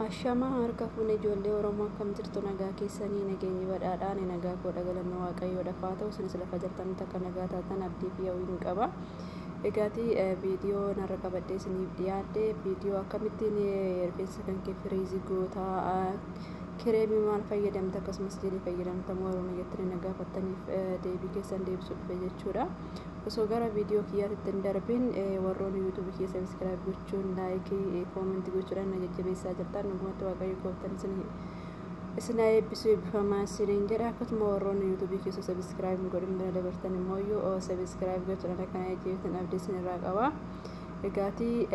Ashamaa harka fuune ijoollee Oromoo akkam jirtu nagaa keessanii nageenyi badhaadhaa ani nagaa koodha galanni waaqayyoodhaaf haa ta'u isinis lafa jirtanitti akka nagaa taatan abdii fi hawwiin qaba. Egaati viidiyoo narra qabadhee isiniif dhiyaadhe viidiyoo akkamittiin rifeensa kan kee firiizii gootaa kireemii maal fayyadamte akkasumas jedhee fayyadamtamu warroonni jettanii na gaafattaniif deebii keessan deebisuu dhufe jechuudha. Osoo gara viidiyoo kiyyaatti hin darbin warroonni yuutuubii kiyya sabiskiraayib jechuun laayikii koomentii gochuudhaan na jajjabeessaa jirtan dhugumatti waaqayyo gooftan isin isin haa eebbisu eebbifamaa isiniin jedha akkasuma warroonni yuutuubii keessa sabiskiraayib hin godhin bira dabartan immoo yoo sabiskiraayib gochuudhaan akka na jajjabeessan abdii isin irraa qaba. Egaatii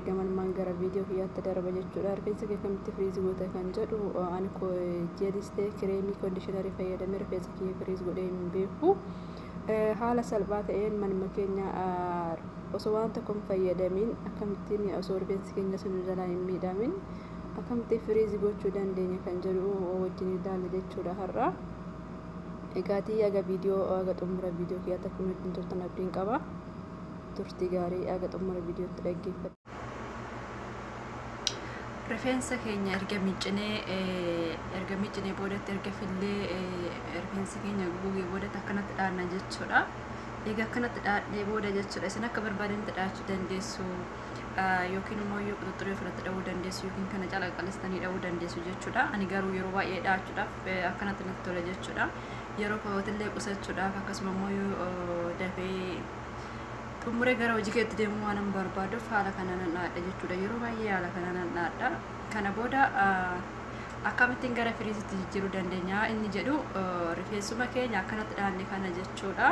gamanmaan gara viidiyoo kiyyaatti darba jechuudha rifeensa kee akkamitti firiizi goota kan jedhu ani jeelistee kireemii koondishinarii fayyadamee rifeensa kiyya firiizi godhee hin beeku. Haala salphaa ta'een manuma keenya osoo waan tokko hin fayyadamiin akkamittiin osoo rifeensi keenya sun nu jalaa hin miidhamin akkamittiin firiizi gochuu dandeenya kan jedhu wajjin ilaalla jechuudha har'a. Egaatii aga viidiyoo aga xumura viidiyoo kiyyaatti akka nu wajjin turtan abdiin qaba. Turtii gaarii aga xumura viidiyootti dhaggeeffadha. rifeensa keenya erga miiccinee erga miiccinee boodatti erga fillee rifeensa keenya gugee boodatti akkanatti dhaanna jechuudha. Egaa akkanatti dhaadhee booda jechuudha isin akka barbaadanitti dhaachuu dandeessu yookiin immoo yoo quxuxxuree ofirratti dha'uu dandeessu yookiin kana cala qalistanii dha'uu dandeessu jechuudha. Ani garuu yeroo baay'ee dhaachuudhaaf akkanatti natti tola jechuudha. Yeroo kootillee qusachuudhaaf akkasuma immoo yoo dafee xumuree gara hojii keetti deemuu waan hin barbaaduuf haala kana nan dhaadha jechuudha yeroo baay'ee haala kana nan dhaadha kana booda akkamittiin gara firiisitti jijjiiruu dandeenya inni jedhu rifeensuma keenya akkanatti dhaanne kana jechuudha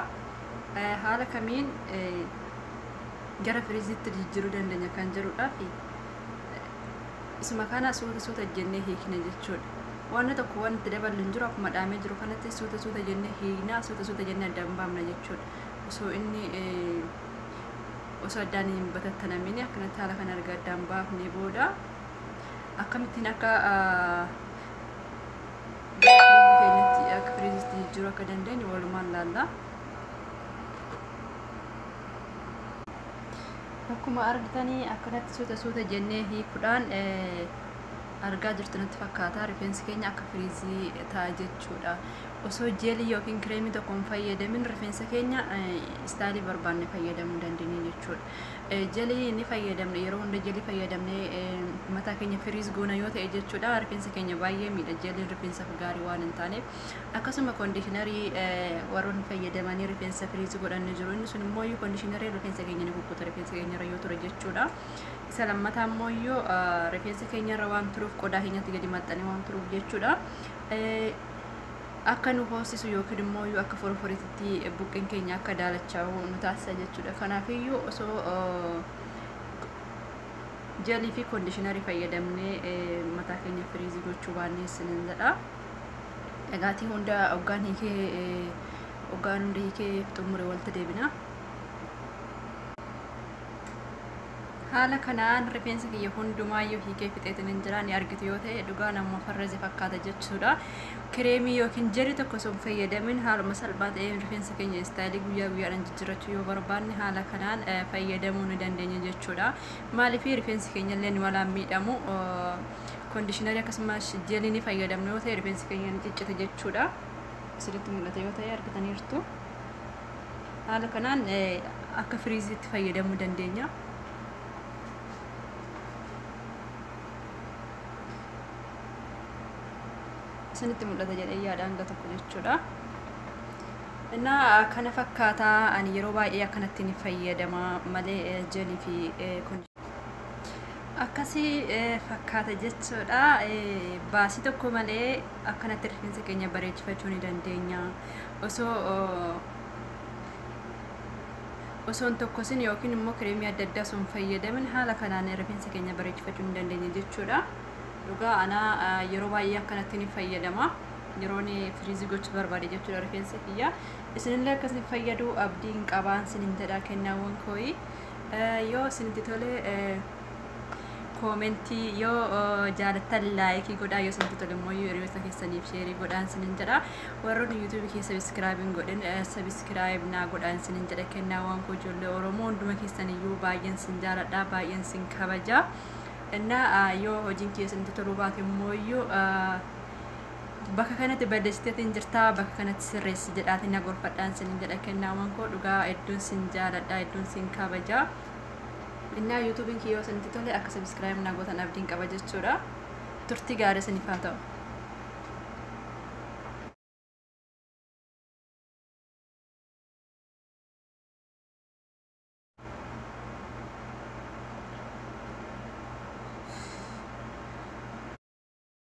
haala kamiin gara firiisitti jijjiiruu dandeenya kan jedhudha fi isuma kana suuta suuta jennee hiikne jechuudha wanna tokko wanti daballu hin jiru akkuma dhaamee jiru kanatti suuta suuta jennee hiikna suuta suuta jennee adda hin baamna jechuudha osoo inni osoo addaan hin batattanamini akkanatti haala kana erga addaan baafnee booda akkamittiin akka keenyatti akka firiizitti jijjiiruu akka dandeenyu walumaan laalla. Akkuma argitanii akkanatti suuta suuta jennee hiikuudhaan argaa jirtu natti fakkaata rifeensi keenya akka firiizii ta'a jechuudha osoo jeelii yookiin kireemii tokko hin fayyadamin rifeensa keenya istaalii barbaanne fayyadamuu dandeenya jechuudha. Jelii ni fayyadamne yeroo hunda jelii fayyadamne mataa keenya firiis goona yoo ta'e jechuudha rifeensa keenya baay'ee miidha jeliin rifeensaaf gaarii waan hin taaneef akkasuma koondishinarii warroonni fayyadamanii rifeensa firiis godhan ni jiru inni sun immoo koondishinarii rifeensa keenya ni kukkuta rifeensa keenya irra yoo ture jechuudha. Isa lammataa immoo rifeensa keenya irra waan turuuf qodaa keenyatti gadi maxxanee waan turuuf jechuudha. akka nu hoosisu yookiin immoo yoo akka foroforitti buqqeen keenya akka daalachaa'u nu taasisa jechuudha. Kanaafiyyuu osoo jelii fi koondishinarii fayyadamnee mataa keenya firiizii gochuu baannee isinin jedha. Dhagaatii hunda hoggaan hiikee hoggaan hunda hiikee xumure walitti deebina. Haala kanaan rifeensa kiyya hundumaayyuu hiikee fixeetinin jira. Ni argitu yoo ta'e dhugaa namuma farraje fakkaata jechuudha. Kireemii yookiin jeli tokko osoo hin fayyadamin haaluma salphaa ta'een rifeensa keenya istaayilii guyyaa guyyaadhaan jijjirrachuu yoo barbaanne haala kanaan eh, fayyadamuu ni dandeenya jechuudha. Maaliif rifeensi keenya illee nu walaan miidhamu kondishinarii akkasumas jelii ni fayyadamnu yoo ta'e rifeensi keenya ni ciccita jechuudha. Isinitti mul'ata yoo ta'e argitaniirtu. haala kanaan akka firiiziitti fayyadamuu dandeenya. Isinitti mul'ata jedhee yaada hanga tokko jechuudha. Innaa kana fakkaataa ani yeroo baay'ee akkanatti ni fayyadama malee jelii fi akkasii eh, fakkaata jechuudha Eh, baasii tokko malee akkanatti rifeensa keenya bareechifachuu ni dandeenya osoo oh, osoo hin tokkosin yookiin immoo kireemii adda addaa osoo hin fayyadamin haala kanaan rifeensa keenya bareechifachuu ni dandeenya jechuudha dhugaa anaa ah, yeroo baay'ee akkanatti ni fayyadama yeroon firiizii gochuu barbaade jechuudha rifeensa kiyya isinillee akkasni fayyaduu abdiin qabaan sinin jedha kennaawwan kooyii Yoo isinitti tole koomentii yoo jaalattan laayikii godhaa yoo isinitti tole immoo hiriyoota keessaniif sheerii godhaan isinin jedha warroonni yuutuubii kee sabiskiraayib hin godhin sabiskiraayib naa godhaan isinin jedha kennaawwan koo ijoollee oromoo hunduma keessaniyyuu baay'een sin jaaladha baay'een sin kabaja እና yoo hojiin kee isinitti toluu baate immoo Bakka kanatti balleessiteetiin jirtaa bakka kanatti sirreessi jedhaatiin na gorfadhaan sinin jedha kennaawwan koo dhugaa hedduun sin jaaladha hedduun sin kabajaa. Innaa yuutuubiin kiyyoo isinitti tole akka sabiskiraayib na gootan abdiin qaba jechuudha. Turtii gaarii isiniif haa ta'u.